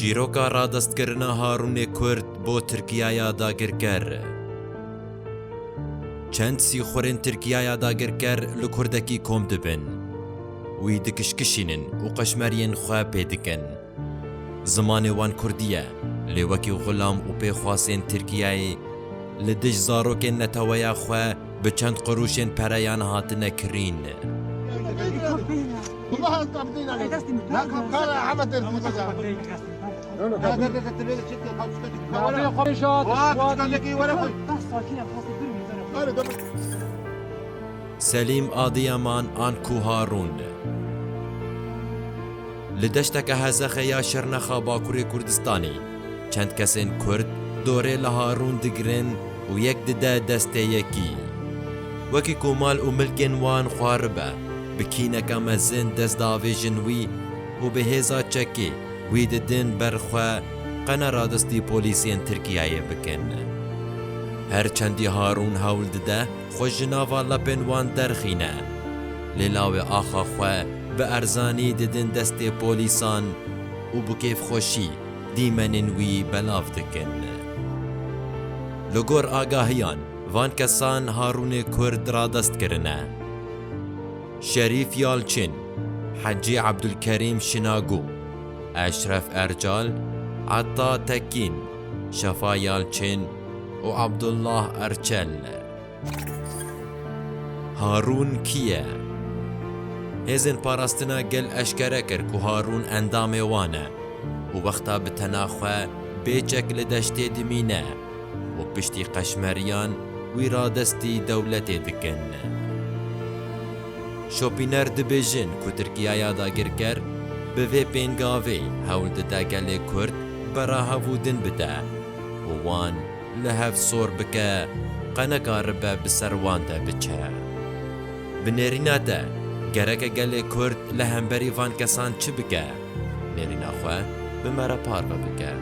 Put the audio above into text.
Çîroka radestkirina Harûnê Kurd bo Tirkiyaya dagirker. Çend sîxurên Tirkiyaya dagirker li kurdekî kom dibin. Wî dikişkişînin û qeşmeriyên xwe pê dikin. Zimanê wan kurdî ye, lê wekî xulam û pêxwasên Tirkiyayê li dij zarokên neteweya xwe bi çend qurûşên pereyan hatine kirîn. Selîm Adîyaman an ku Harûn li deşteke hezexê ya Şirnexa Bakurê Kurdistanê. Çend kesên Kurd dorê li Harûn digirin û yek dide destê yekî. Wekî ku mal û milkên wan xwe ribe, bi kîneke mezin dest diavêjin wî û bi hêza çekê wî didin ber xwe qene radestî polîsên Tirkiyeyê bikin. Her çendî Harûn hewl dide xwe ji nava lepên wan derxîne, lê lawê axa xwe bi erzanî didin destê polîsan û bi kêfxweşî, dîmenên wî belav dikin. Li gor agahiyan van kesan Harûnê Kurd radest kirine. Şerîf Yalçin, Hecî Ebdulkerîm Şinagû, Eşref Ercal, Etta Tekîn, Şefa Yalçin û Abdullah Erçel. Harûn kî ye? Hêzên Parastina Gel eşkere kir ku Harûn endamê wan e û wexta bi tena xwe bê çek li deştê dimîne û piştî qeşmeriyan wî radestî dewletê dikin. Şopîner dibêjin ku Tirkiyaya dagirker bi vê pêngavê hewl dide gelê Kurd berahev û din bide û wan, li hev sor bike qeneka ribe bi ser wan de biçe. Bi nêrîna te gereke gelê Kurd li hemberî van kesan çi bike? Nêrîna xwe bi me re parve bike.